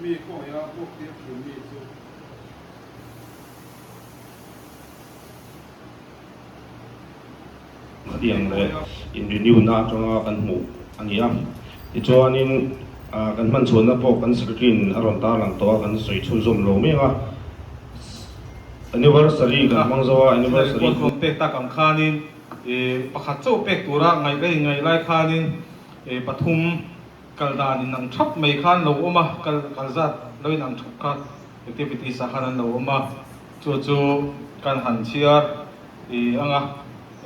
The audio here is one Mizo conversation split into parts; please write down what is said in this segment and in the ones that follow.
mi kawngei a buak tir thin mi chu tiang leh in renew na atanga kan hmuh a ni a, tichuanin kan hman chhuah na pawh kan secretary in a rawn tarlang tawh a, kan sawi chhunzawm lo mek a, anniversary kan hmang zo a, anniversary chu. Tuna khualtlawn pek tak ang khanin pakhat chauh pek tura ngaih rei ngaih lai khanin pathum. Kal dan in ang thap mai kha an lo awm a, kal kal zat lo in ang thup kha activities ah khan an lo awm a, chu chu kan han chhiar i ang a,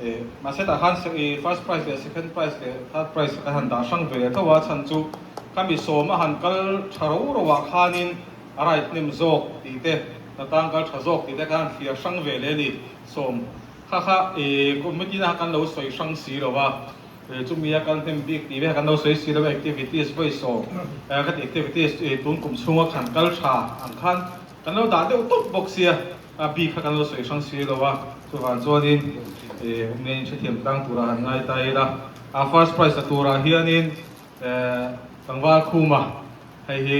eh mahse tah khan i first prize leh second prize leh third prize kan han dah hrang ve leh tho a, chhan chu khami sawm a han kal tha ro ro ah khanin a right nem zawk tih te, a tang kal tha zawk tih te khan a han thliar hrang ve leh a ni, sawm kha kha eh committee na khan kan lo sawi hrang si lo a. He chu mia kal hnem bik tih vek an lo sawi si lo, activities voice aw khati activities chu tun kum chhunga khan kal tha ang khan kan lo dah deuh tawp bawk sia bik kha kan lo sawi hrang si lo a, chuvang chuanin awmnge in hrethiam tlang turah han ngai ta ila a first prize la turah hianin tlangval khuma hei hi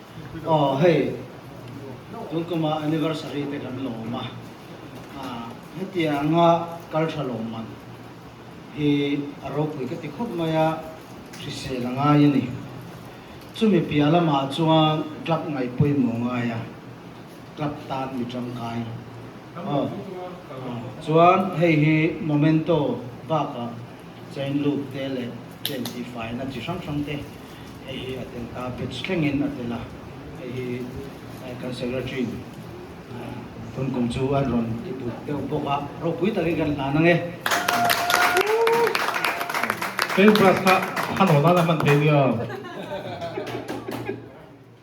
Aw hei, Tulkama anniversary te kan lawm a, hetia anga kaltha lawm man hi a ropui ka ti khawp mai a, hrisel a ngai a ni. Chumi piah lamah chuan club ngaih pawimawh ngai a, club tan mi tangkai aw. Chuan hei hi Momento bakah chain loop te leh chen tihfai na chi hrang hrang te. Hei hi a tel ta, batch thlengin a tel a, hei hi kan secretary in phun kum chu an rawn ti put deuh bawk a, ropui takin kan hlan ang e. Paint brush kha a hnawn a la hman thei nia.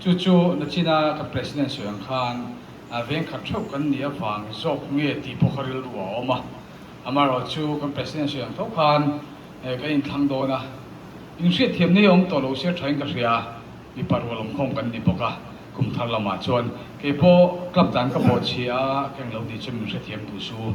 Chu chu na chin a ka President sawi ang khan veng khat theuh kan nih avang zawk nge tih pawh kha rilru a awm a, amaherawh chu kan President sawi ang tho khan kan inthlang dawn a, inhriat thiam neiawm awm tawh lo se thain ka hria, mipa rual awm khawm kan ni bawk a, kum thar lamah chuan keipawh club dan ka bawhchhia a ka englo ni chu min hrethiam duh su.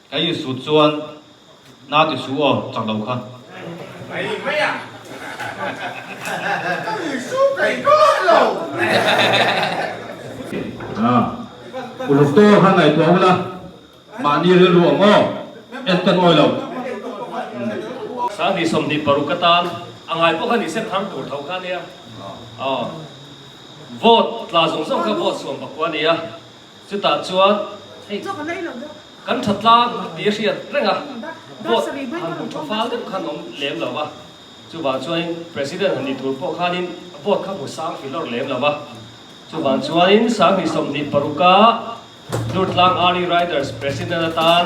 Ka Isua chuan na ti su aw chak lo kha. Ngaih mai a. Ka Isu kaih kawt lo. U Doctor kha ngaih tuah ula, mahni rilru ang aw, en kan awih lo. Sangti sawmhnih paruk ka tan a ngai pawh kha ni se thar tur tho kha ania. Vote tla zawng zawng kha vote suam pakua ania. Chutah chuan hei kan tha tlang a ti a hriat reng a, vote han hmu tha fal deuh khan awm lem lo a, chuvang chuanin President han ni tur pawh khanin vote kha hmu sang fil awrh lem lo a, chuvang chuanin sang hnih sawmhnih paruk a Hlurtlang Army Riders President atan,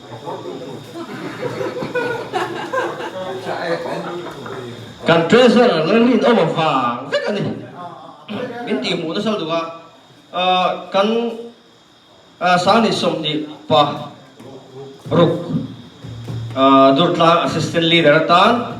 Kan treasurer lo rin awm avang vek a ni. Min tih hmuh nasa duh a, kan Sahni Sawmnih pa ruk Durtlang assistant leader atan,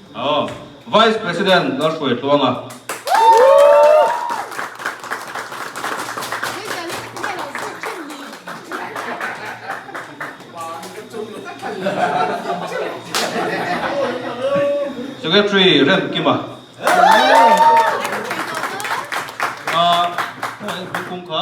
Vice President Lalhruai Tluanga, Secretary Rem Kima, Hmuh Aih Hmuh Kung Kha,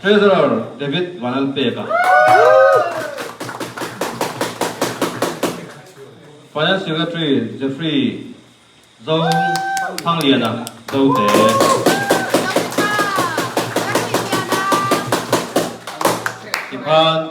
Treasurer David van an pek a. Finance Secretary Jeffrey Zo Thanglian a zo te. Tikhan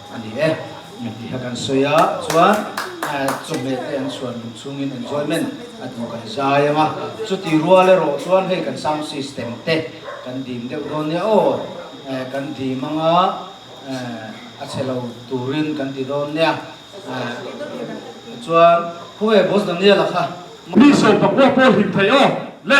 A ni e, mi ti kha kan sawi a, chuan chawhmeh te an chhuan lung chhungin enjoyment a duh kan zai ang a, chuti rual erawh chuan hei kan sound system te kan dim deuh dawn nia aw kan dim ang a, a chhe lo turin kan ti dawn nia, chuan khawnge boss Daniel-a kha. Mi sawi pakua pawh hlim thei aw le